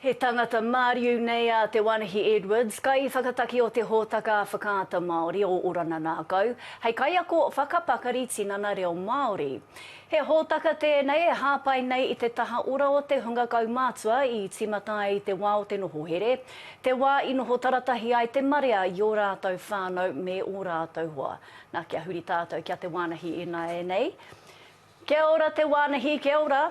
He tangata māriu nei a Te Wānahī Edwards, kaiwhakataki o te hōtaka Whakaata Māori o Orana Nākau, hei kaiako whakapakari tinana reo Māori. He hōtaka tēnei e hāpai nei i te taha ora o te hunga kaumātua i tīmata ai i te wā o te noho here, te wā i noho taratahi ai te marea i ō rātou whānau me ō rātou hoa. Nā, kia huri tātou ki a Te Wānahī ināianei. Kia ora Te Wānahī, kia ora.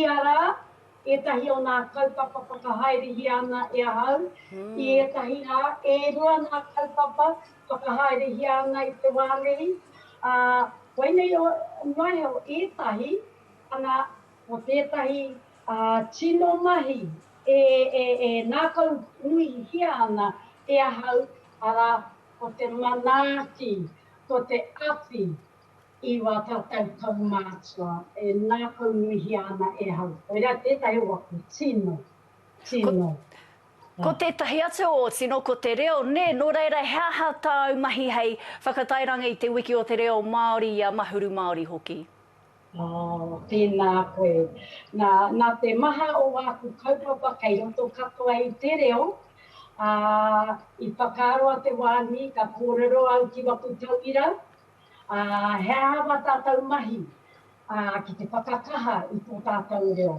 Ia rā, ētahi o ngā kaupapa whakahaerehia ana e ahau. I ētahi rā, e rua ngā kaupapa whakahaerehia ana i te wā nei, ā, koinei noa iho ētahi, ana, ko tētahi tino mahi e ngākau nuihia ana e ahau, arā, ko te manaaki, ko te awhi, I wā tātou kaumātua e ngākaunuihia ana e hau. Koirā tētahi o aku tino, tino. Ko tētahi atu o tino ko te reo, nē, nō reira he aha tāu mahi hei whakatairanga i te wiki o te reo Māori i a Mahuru Māori hoki? Oh, tēnā koe. Nā, nā te maha o āku kaupapa kei roto katoa i te reo, ā, i whakaaro a Te Wānui ka kōrero au ki waku tauira, ā, he aha ngā tātou mahi, ā, ki te whakakaha i tō tātou reo.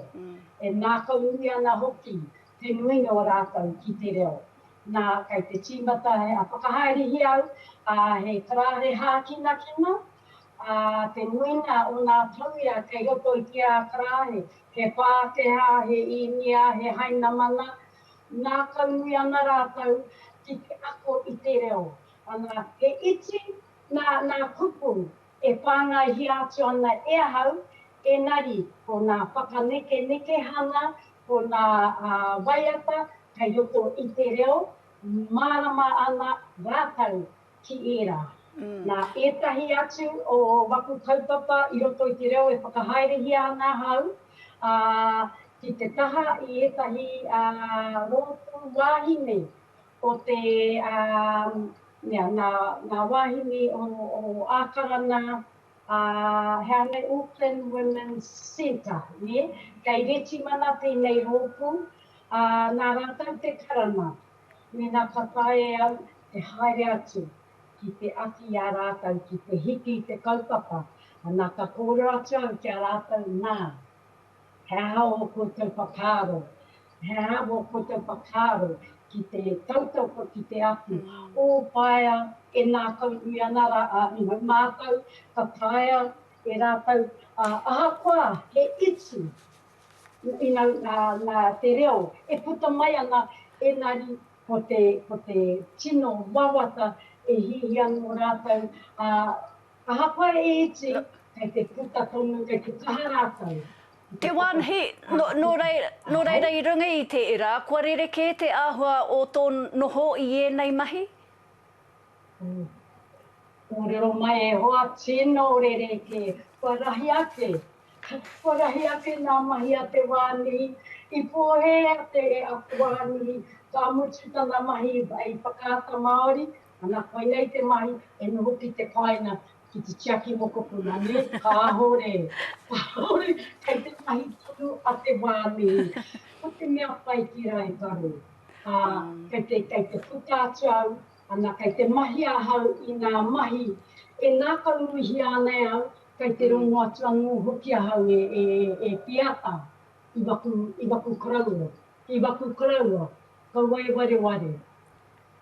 E ngākaunui ana hoki te nuinga o rātou ki te reo. Nā, kei te tīmata he whakahaerehia au, ā, he karāhe hākinakina, ā, te nuinga o ngā tauira kei roto i te ā-karāhe, he Pākehā, he Īnia, he Hainamana, ngākaunui ana rātou ki te ako i te reo. Ana, he iti nā ngā kupu e whāngaihia atu ana e ahau, engari ko ngā whakanekenekehanga, ko ngā waiata kei roto i te reo, mārama ana rātou ki ērā. Nā ētahi atu o waku kaupapa i roto i te reo e whakahaerehia ana ahau, ā, ki te taha i ētahi rōpū wāhine Ko te mea, ngā wāhine o Ākarana, he aha nei, Auckland Women's Centre, kei Retimana tēnei rōpū, nā rātou te karanga, mēnā ka taea e au te haere atu ki te awhi i a rātou ki te hiki i te kaupapa, ana ka kōrero atu au ki a rātou, nā, He aha ō koutou whakaaro? He aha ō koutou whakaaro ki te tautoko, ki te aku, ō paea e ngākaunui ana rā a Ihu mātou, ka taea e rātou, ā, ahakoa he iti ina ngā te reo e puta mai ana, engari ko te, ko te tino wawata e hiahia anō rātou, ā, Ahakoa e iti, kei te puta tonu, kei te kaha rātou. Te wānhi, nō reira i runga i te ira, kua rerekē te āhua o tō noho i ēnei mahi? Kōrero mai e hoa, tino rerekē, kua rahi ake, kua rahi ake ngā mahi a te wānhi, i pōhēhea te e ako wānhi, ka mutu tana mahi i whakaata Māori, Ana, koinei te mahi e noho ki te paenga ki te tiaki mokopuna, nē? Kāore, kāore, kei te mahi tonu a te wā mihi. Ko te mea pai ki Raikaro, ā, kei te, kei te puta atu au, ana, kei te mahi ahau i ngā mahi e ngākaunuihia ana e au, kei te rongo atu anō hoki ahau e, e, e Piata, i waku, i waku koroua, i waku koroua, kaua e wareware.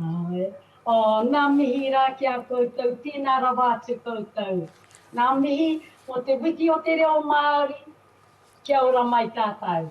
Ae. Oh, nga mihi ra ki a koutou, tena rawa atu koutou. Nga mihi mo te wiki o te reo Maori, kia ora mai tatou.